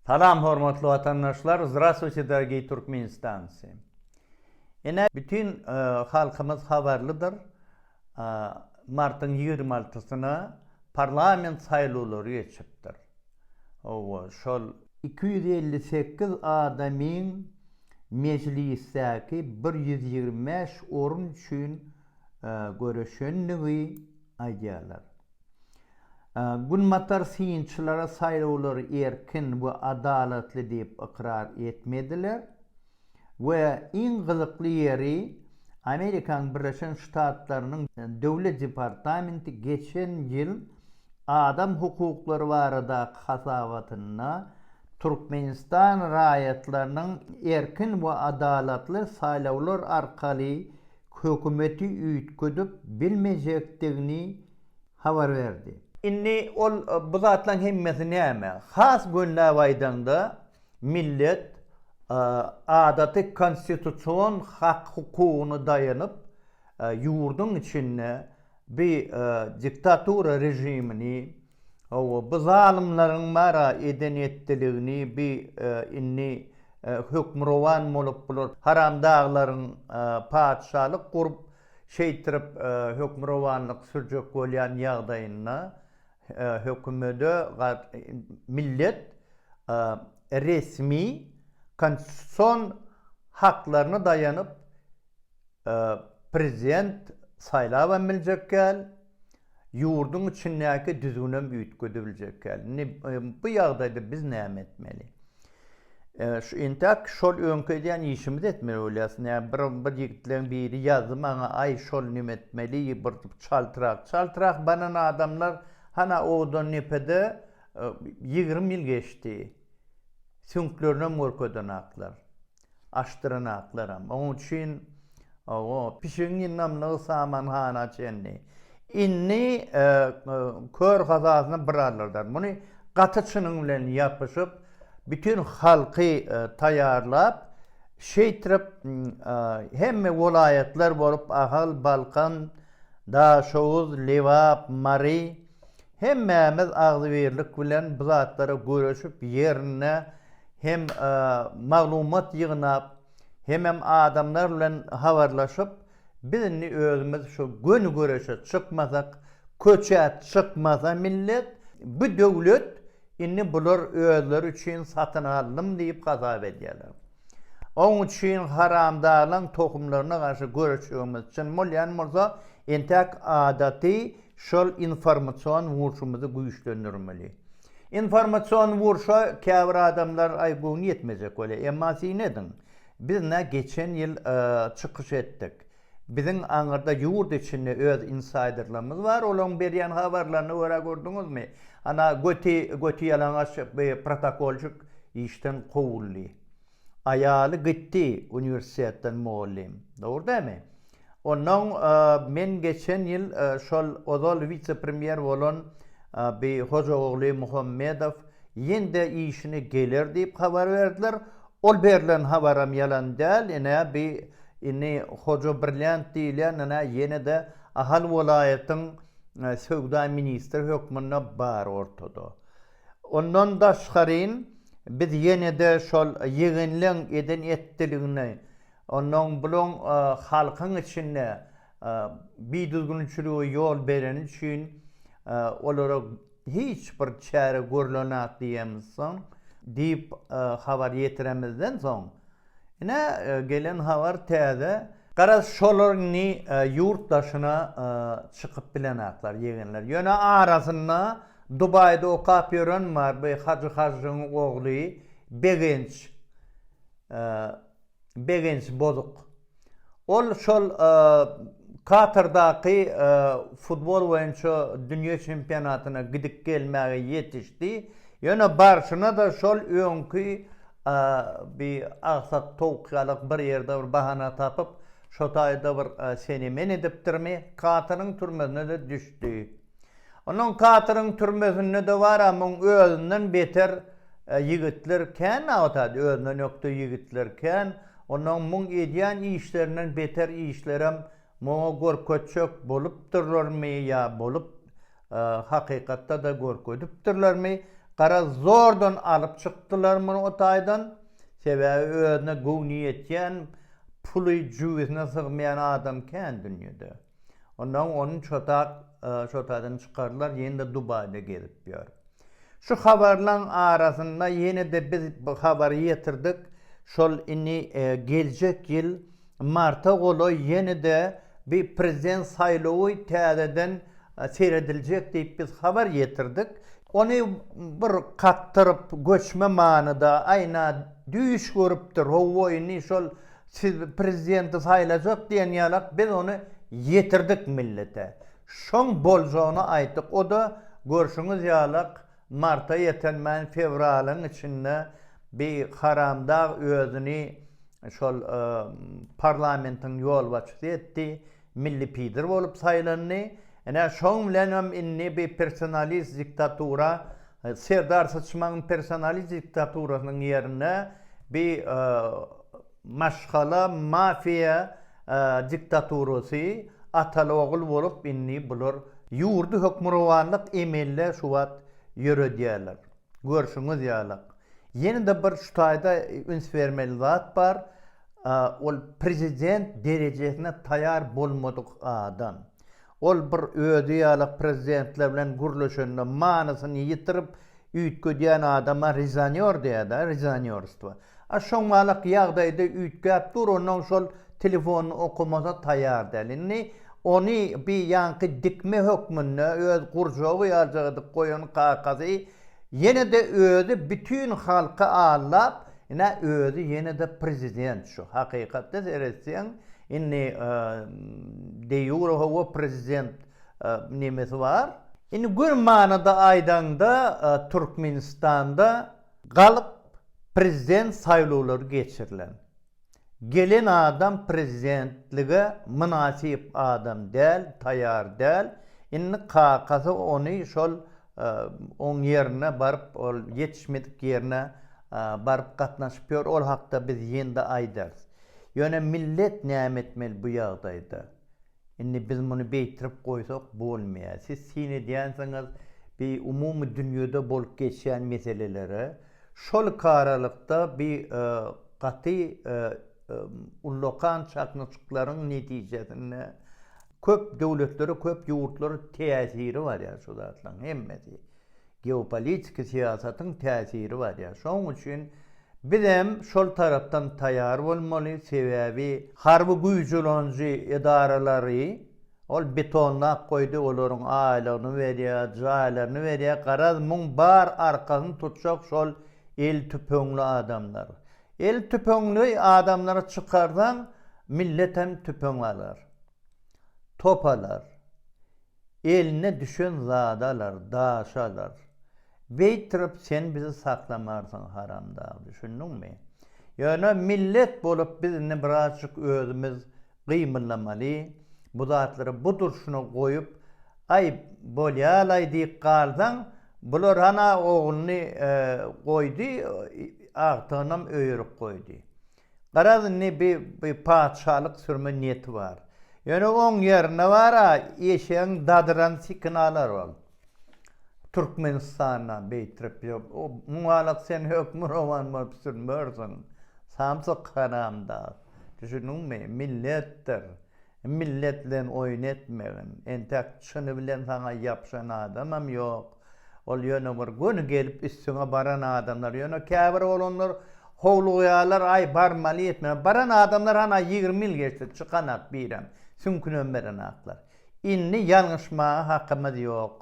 Salam hormatly watandaşlar Zdrastwuyte dorogiý Turkmenistancy Ine bütin halkymyz habarlydyr martyň ýigrimi altysyna parlament saýlawlary geçipdir howa şol iki ýüz elli sekiz adamyň mejlisdäki bir ýüz ýigrimi bäş orun üçin göreşendigi aýdýarlar. Günbatar synçylary saýlawlary erkin we adalatly diýip ykrar etmediler we iň gyzykly ýeri, Amerikanyň Birleşen Ştatlarynyň Döwlet departamenti geçen ýyl adam hukuklary baradaky hasabatynda Türkmenistan raýatlarynyň erkin we adalatly saýlawlar arkaly hökümeti üýtgedip bilmejekdigini habar berdi. Indi ol bu zatlaryň hemmesi näme? Has gönläp aýdaňda, millet adaty konstitusion hak-hukugyna daýanyp, ýurduň içinde bi diktatura režimini, Hawa, bu zalymlaryň bar-a eden-etdiligini bi indi hökmürowan bolup bular haramdaglaryň patyşalyk gurup, şeýtirip hökmürowanlyk sürjek bolýan ýagdaýynda hökümede millet resmi konstitusion haklaryna daýanyp prezident saýlabam biljek däl. Ýurduň içindäki düzgünem üýtgedi biljekkäl. Indi bu ýagdaýda biz näme etmeli? Şu entäk şol öňki edýän işimizi etmeli bolýas. Nä bir bir ýigitleň biri ýazdy maňa aý şol nime etmeli bir çaltrak çaltrak banan adamlar hana odan nepede ýigrimi ýyl geçdi süňklerinem görkedenaklar. Aşdyranaklarym. Oň üçin owo, pişigiň ýygnamlygy samanhana çenli. Indi kör hazasyna bir alyrdar. Muny gaty çynyň bilen ýapyşyp, bütin halky taýýarlap, şeýtrip hemme welaýatlar bolup, Ahal, Balkan, Daşoguz, Lebap, Mary, Hemmämiz agzybirlik bilen bu zatlara göreşip ýerinde hem maglumat ýygnap hemem adamlar bilen habarlaşyp biz indi özümiz şu göni göreşe çykmasak köçä çykmasa millet bu döwlet indi bular özleri üçin satyn aldym diýip hasap edýärler. Oň üçin haramzalaň tohumlaryna garşy göreşjegimiz çyn bolýan bolsa entäk adaty Şol informasion urşumyzy güýçlendirmeli. Informasion urşa käbir adamlar aý göwni ýetmejek bolýar. Emma syn ediň, biz nä geçen ýyl çykyş etdik. Biziň aňyrda ýurt içinde öz insaýderlerimiz bar, olaryň berýän habarlaryna görä gördüňizmi, ana göti göti ýalaňaç protokolşik işden kowuldy. Aýaly gitdi uniwersitetden mugallym. Dogry dämi? Onnoň men geçen ýyl şol ozal wise-premýer bolan bi Hojaogly Muhammedow ýen-de işine geler diýip habar berdiler. Ol berlen habaram ýalan däl. Ine bi indi Hoja Brilýant diýilýän ine ýene-de Ahal welaýatyň söwda ministri hökmünde bar ortada. Ondan daşgaryn biz ýene-de şol ýegenleň eden etdiligini, onnoň bulaň halkyň içinde bidüzgünçilige ýol bereni üçin olara hiç bir çäre görlenok diýemizsoň, diýip habar ýetiremizden soň, Ine gelen habar täze. Garaz şolar indi ýurt daşyna çykyp bilenaklar ýegenler. Ýöne arasynda Dubaýda okap ýören bar bu Hajy Hajjyň ogly Begenç Begenç Bozuk. Ol şol Katardaky futbol boýunça dünýä çempionatyna gidip gelmäge ýetişdi. Ýöne barşyna-da şol öňki bi agsak towuk ýalak bir ýerde bir bahana tapyp, şo taýda bir seni-meni edipdirmi, Kataryň türmesine-de düşdi. Onuň Katyryň türmesinde dobara muň özünden beter ýigitler kän nabtady, özünden ökde ýigitler kän, onuň muň edýän işlerinden beter işlerem muňa görkezjek bolupdyrlarmy ýa bolup hakykatda-da görkezipdirlermi, garaz zordan alyp çykdylar muny o taýdan, sebäbi özüne göwni ýetýän puly jübüsine sygmaýan adam kän dünýede. Ondan onuň çotat çotadyny çykardylar, ýene-de Dubaýda gezip ýör. Şu habarlaryň arasynda ýene-de biz bu habary ýetirdik, şol indi geljek ýyl marta golaý ýene-de bi prezident saýlawy täzeden serediljek diýip biz habar ýetirdik. Ony bir kakdyryp, göçme manyda, aýna düýş görüpdir, howwa indi şol Siz prezidenti saýlajak diýen ýalak biz ony ýetirdik millete. Şoň boljagyny aýtdyk oda görşüňiz ýalak marta ýetenmän fewralyň içinde bi haramdag özüni şol parlamentiň ýolbaçysy etdi milli pidir bolup saýlandy. Ine şoň bilenem indi bi personalist diktatura Serdar Syçmagyň personaly diktaturasynyň ýerine bi maşgala mafiýa diktaturasy ataly ogul bolup indi bular ýurdy hökmürowanlyk emelde şu wagt ýöredýärler. Görşüňiz ýalak. Ýene-de bir şu taýda üns bermeli zat bar, ol prezident derejesine taýar bolmadyk adam. Ol bir özi ýalak prezidentler bilen gürleşende manysyny ýitirip üýtgedýän adama rezonýor diýýärdi-ä, rezonýorstwo. A şoň ýalak ýagdaýda üýtgäp dur, onnoň şol telefonyny okamasa taýar däl. Indi ony bir ýaňky dikme hökmünde öz gurjagy ýaljak edip goýan kakasy Ýene-de özi bütin halky aldap, ine, özi ýene-de prezident şu. Hakykatda seretseň, indi de-ýure hawa prezident nemesi bar. Indi gür manyda aýdaňda, Türkmenistanda galyp prezident saýlawlary geçirilen. Gelen adam prezidentlige mynasyp adam däl, taýar däl, indi kakasy ony şol oň ýerine baryp, ol ýetişmedik ýerine baryp gatnaşyp ýör, ol hakda biz ýende aýdarys. Ýöne millet näme etmeli bu ýagdaýda? Indi biz muny beýtirip goýsak bolmaýar. Siz syn edýänsiňiz bi umumy dünýede bolup geçýän meselelere. Şol iki aralykda bi gaty ullakan çaknyşyklaryň netijesinde köp döwletlere, köp ýurtlara täsiri bar ýa şu zatlaryň hemmesi. Geopolitiki syýasatyň täsiri bar ýa. Şoň üçin biz hem şol tarapdan taýýar bolmaly, sebäbi harby güýji ulanjy edaralary ol betonlap goýdy, olaryň aýlygyny berýä, jaýlaryny berýä, garaz muň bar arkasyny tutjak şol el tüpeňli adamlar. El tüpeňli adamlary çykarsaň millet hem tüpeň alar. Top alar. Eline düşen zady alar, daşy alar. Beýtirip sen bizi saklamarsyň haramdag, düşündiňmi? Ýöne millet bolup biz indi birazjyk özümiz gymyllamaly, bu zatlary bu durşuna goýup, aý, bolýa-laý diýip galsaň, bular hana ogluny goýdy, agtygynam öýerip goýdy. Garaz indi bi bi patyşalyk sürme niýeti bar. Ýöne oň ýerine bar-a eşegiň dadyran sikini alar ol. Türkmenistanda beýtrek ýok. O muňalak sen hökmürowan bolup sürmersiň. Samsyk haramdag. Düşündiňmi? Milletdir. Millet bilen oýun etmegin. Entäk çyny bilen saňa ýapyşan adamam ýok. Ol ýöne bir göni gelip üstüňe baran adamlar. Ýöne käbir oglanlar howlugýarlar, aý barmaly ýetmeli. Baran adamlar hany ýigrimi ýyl geçdi çykanak birem, süňkünem berenaklar. Indi ýalňyşmaga hakymyz ýok.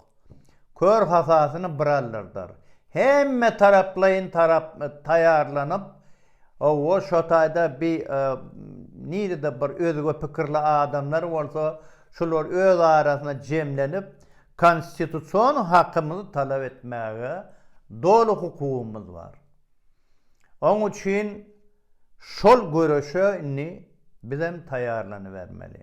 kör hasasyny bir aldyrdar. Hemmetaraplaýyn taýýarlanyp, hawa, şo taýda bi nirede bir özge pikirli adamlar bolsa, şular öz arasynda jemlenip, konstitusion hakymyzy talap etmäge doly hukugymyz bar. Oň üçin şol göreşe indi bizem taýýarlanybermeli.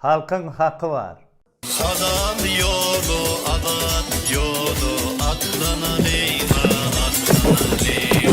Halkyň haky bar. Halal ýola azat ýola atlanan eýwa atlanan eý.